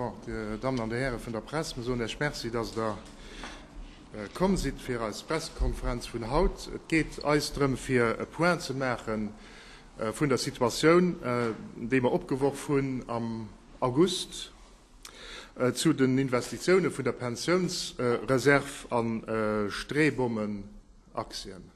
Bon, Dir Dammen an Dir Häre vun der Press, mir soen Iech Merci, dass Der komm sidd fir eis Pressekonferenz vun haut. Et geet eis drëm, fir e Point ze maache vun der Situatioun, déi mer opgeworf hunn am August zu den Investitiounen vun der Pensiounsreserv a Streebommenaktien.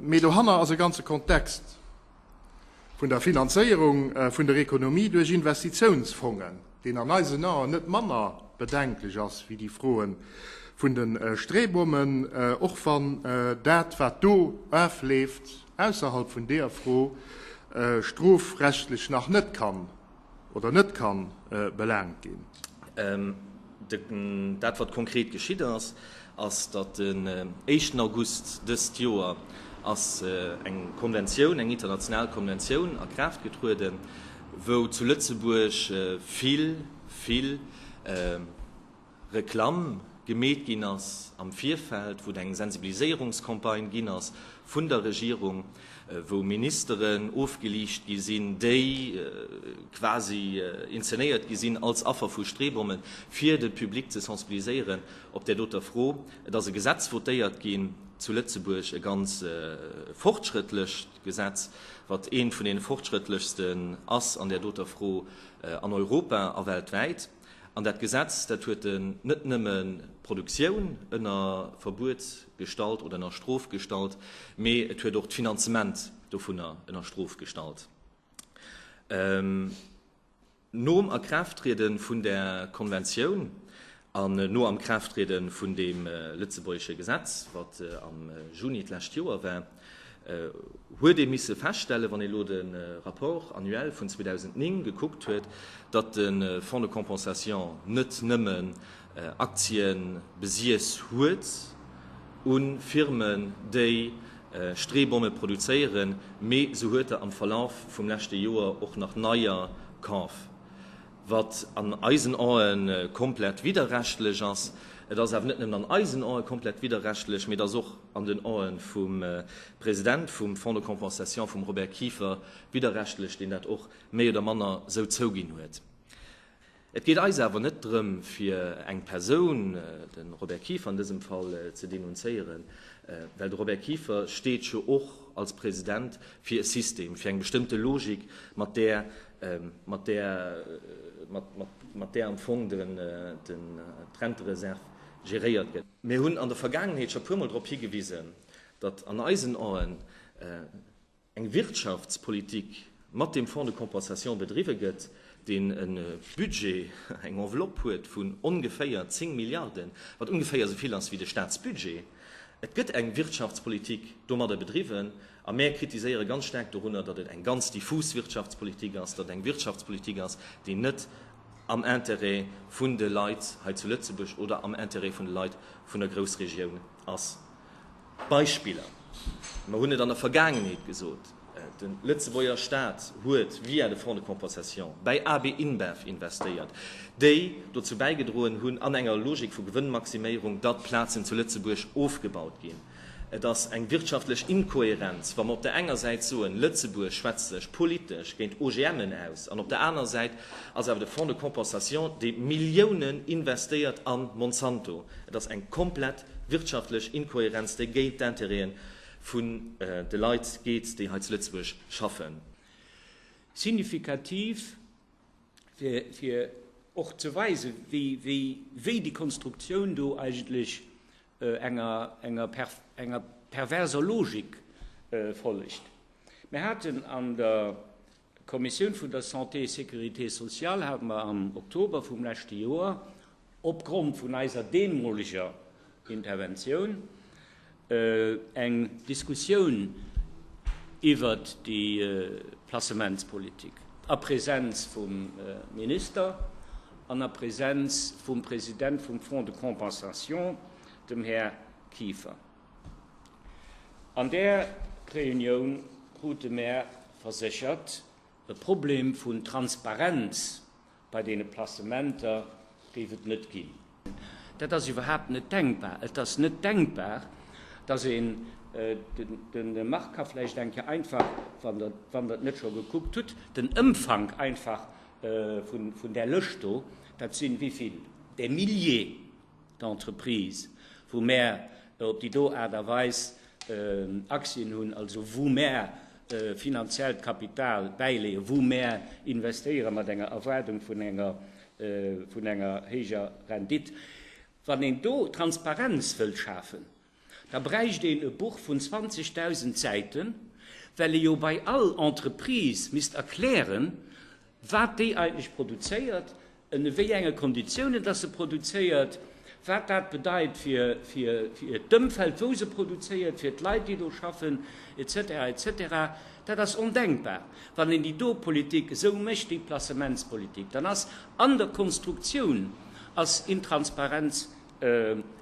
Mee dohanner ass e ganze Kontext vun der Finanzéierung vun der Ekonomie duerch Investitiounsfongen, deen an eisen Aen net manner bedenklech ass wéi déi Froe vun de Streebommen, och wann dat, wat do afleeft, ausserhalb vun deer Fro strofrechtlech nach net kann oder net ka belaangt ginn. Dat wat konkret geschitt ass, ass datt den éischten August dëst Joer ass eng Konventioun, eng international Konventioun a Kraaft getrueden, wou zu Lëtzebuerg vill, vill. Reklamm gemeet ginn ass am Virfeld, wou et eng Sensibiliséierungscampagne ginn ass vun der Regierung, wou Ministeren ofgeliicht gi sinn, déi quasi inzenéiert gi sinn als Affer vu Streebommen, fir de Public ze sensibiliséieren op där doter Fro. Et ass e Gesetz votéiert ginn zu Lëtzebuerg, e ganz fortschrëttlecht Gesetz, wat eent vun deene fortschrëttlechsten ass an där doter Fro an Europa a weltwäit. An dat Gesetz, dat huet en net nëmme d'Produktioun ënner Verbuet gestallt oder ënner Strof gestallt, mee et huet och d'Finanzement dovunner ënner Strof gestallt. Nom Akraafttriede vun där Konventioun an no Amkraafttriede vun deem lëtzebuergesche Gesetz, wat am Juni d'lescht Joer war, huet ee misse feststellen, wann ee elo de Rapport annuel vun 2009 gekuckt huet, datt de Fonds de compensation net nëmme Aktie besiess huet u Firmen, déi Streebonne produzéieren, mee se huet der am Verlaf vum leschte Joer och nach neier kaf. Wat an eisen Ae komplett widderrechtlech ass. Et ass awer net nëmmen an eisen Ae komplett widderrechtlech, mee et ass och an den Ae vum President vum Fonds de compensation, vum Robert Kieffer, widderrechtlech, deen dat och méi oder manner sou zouginn huet. Et geet eis awer net drëm, fir eng Persoun, de Robert Kieffer an dësem Fall, ze denunzéieren, well de Robert Kieffer steet jo och als President fir e System, fir eng bestëmmte Logik, mat där mat där mat där am Fong d'Rentereserv geréiert gëtt. Mir hunn an der Vergaangenheet scho puermol drop higewisen, datt an eisen Aen eng Wirtschaftspolitik mat deem Fonds de compensation bedriwwe gëtt, deen e Budget, eng Enveloppe huet vun ongeféier 10 Milliarden, wat ongeféier esou vill ass wéi de Staatsbudget. Et gëtt eng Wirtschaftspolitik domadder bedriwwen. A mär kritiséiere ganz staark dorunner, datt et eng ganz diffus Wirtschaftspolitik ass, datt et eng Wirtschaftspolitik ass, déi net am Intérêt vun de Leit hei zu Lëtzebuerg oder am Intérêt vun de Leit vun der Groussregioun ass. Beispiller, mer hunn et an der Vergaangenheet gesot, De Lëtzebuerger Staat huet via de Fonds de compensation bäi AB InBev investéiert, déi dozou bäigedroen hunn, an enger Logik vu Gewënnmaximéierung, datt Plazen zu Lëtzebuerg ofgebaut ginn. Et ass eng wirtschaftlech Inkohärenz, wa mer op der enger Säit soen, Lëtzebuerg schwätzt sech politesch géint OGMen aus, an op der aner Säit ass awer de Fonds de compensation, dee Milliounen investéiert a Monsanto. Et ass eng komplett wirtschaftlech Inkohärenz, déi géint d'Intérêten vun de Leit geet, déi hei zu Lëtzebuerg schaffen. Signifikativ. fir, fir och ze weisen, wéi, wéi, wéi déi Konstruktioun do eigentlech enger, enger, enger perverser Logik follegt. Mir haten an der Kommissioun vun der Santé et Sécurité sociale, hate mer am Oktober vum leschte Joer, opgrond vun eiser deemoleger Interventioun eng Diskussioun iwwert déi Placementspolitik a Präsenz vum Minister an a Präsenz vum President vum Fonds de compensation, dem Här Kieffer. An där Reunioun krute mär verséchert, e Problem vun Transparenz Bei deene Placementer géif et net ginn. Dat ass iwwerhaapt net denkbar. Et ass net denkbar, dass een, de Marc ka vläicht eng Kéier einfach, wann Der et net scho gekuckt hutt, den Ëmfank einfach vun där Lëscht do, dat sinn, wéivill? Des Milliers d'Entreprise wou mär op déi do Aart a Weis Aktien hunn, also wou mär finanziellt Kapital bäileeën, wou mär investéiere mat enger Erwaardung vun enger héijer Rendite. Wann een do Transparenz wëllt schafen, Da bräicht een e Buch vun 20.000 Säiten, well ee jo bei all Entreprise misst erklären, wat déi eigentlech produzéiert, ënne wéi enge Konditiounen dass se produzéiert, wat dat bedeit fir d'Ëmfeld, wou se produzéiert, fir d'Leit, déi do schaffen, etc. Etc. Dat ass ondenkbar, wann een déi do Politik esou mécht, déi Placementspolitik. Dann ass an der Konstruktioun ass Intransparenz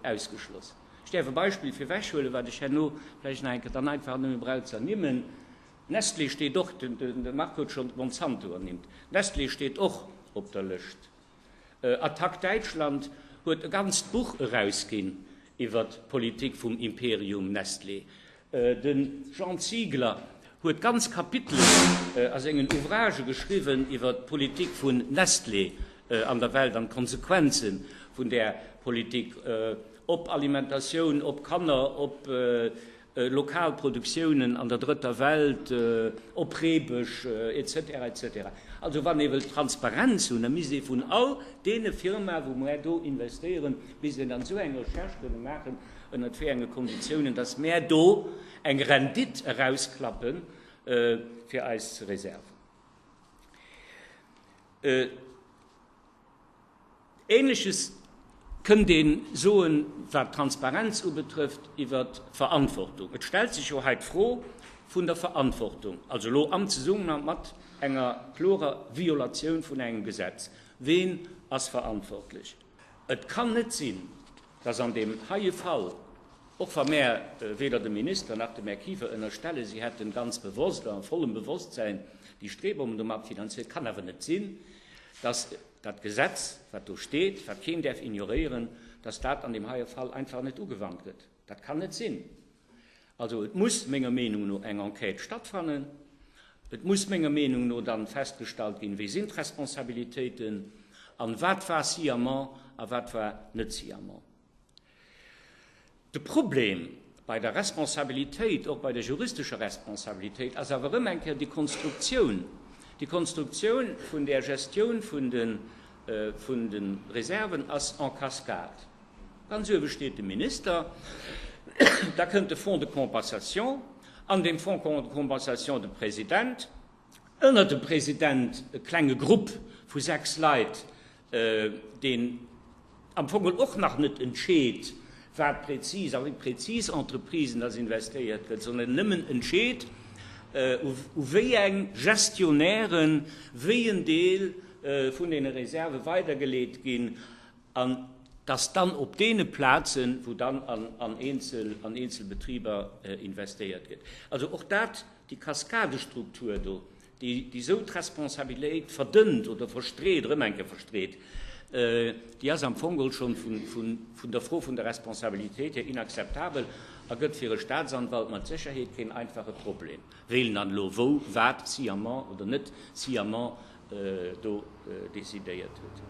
ausgeschloss. Ech däerf e Beispill fir ewechhuelen, wat ech herno vläicht nach eng Kéier dann einfach nëmme brauch ze ernimmen, Nestlé steet och, de Marc huet schonn Monsanto ernimmt, Nestlé steet och op der Lëscht. Attac Däitschland huet e ganzt Buch erausginn iwwer d'Politik vum Imperium Nestlé. De Jean Ziegler huet ganz Kapitelen a sengen Ouvragë geschriwwen iwwer d'Politik vun Nestlé an der Welt an d'Konsequenze vun där Politik op Alimentatioun, op Kanner, op lokal Produktiounen an der Drëtter Welt, op Reebësch, etc. Etc. Also wann ee wëllt Transparenz hunn, da misst ee vun all deene Firmae wou mer do investéieren, misst een dann esou eng Recherche kënne maachen, ënnert wéi enge Konditiounen dass mär do eng Rendite erausklappe fir eis Reserven. Ähnleches kënnt ee soen, wat d'Transparenz ubetrëfft iwwert d'Verantwortung. Et stellt sech jo hei d'Fro vun der Verantwortung, also elo am Zesummenhang mat enger klorer Violatioun vun engem Gesetz. Ween ass verantwortlech? Et kann net sinn, dass an deem heie Fall, och wa mär weder dem Minister nach dem Här Kiefer ënnerstellen, si hätten ganz bewosst a vollem Bewosstsein déi Strebungen do mat finanziert, kann awer net sinn, dass dat Gesetz, wat do steet, wat keen däerf ignoréieren, dass dat an deem heie Fall einfach net ugewannt gëtt. Dat kann net sinn. Also et muss menger Meenung no eng Enquête stattfannen. Et muss menger Meenung no dann festgestallt ginn, wie sinn d'Responsabilitéiten an wat war Sciament a wat war net Sciament. De Problem bei der Responsabilitéit, och bei der juristescher Responsabilitéit, ass awer erëm eng Kéier déi Konstruktioun, déi Konstruktioun vun där Gestioun vun de Reserven ass en cascade. Ganz uewe steet de Minister. Da kënnt de Fonds de compensation, an deem Fonds de compensation de President, ënner dem President e klenge Grupp vu sechs Leit, deen am Fong geholl och nach net entscheet, wat prezis a wéi prezis Entreprisen dass investéiert gëtt, sondern nëmmen entscheet, u wéi eng Gestionnairen wéi en Deel vun deene Reserve weidergeleet ginn. an dass dann op deene Plazen, wou dann an eenzel Betriber investéiert gëtt, also och dat, déi Kaskadestruktur do, déi esou d'Responsabiliéit verdënnt oder verstreet, erëm eng Kéier verstreet, déi ass am Fong geholl schon vun der Fro vun der Responsabilitéit hier inakzeptabel a gëtt fir e Staatsanwalt mat Sécherheet keen einfache Problem, wéi en dann elo wou wat sciemment oder net sciemment do décidéiert huet.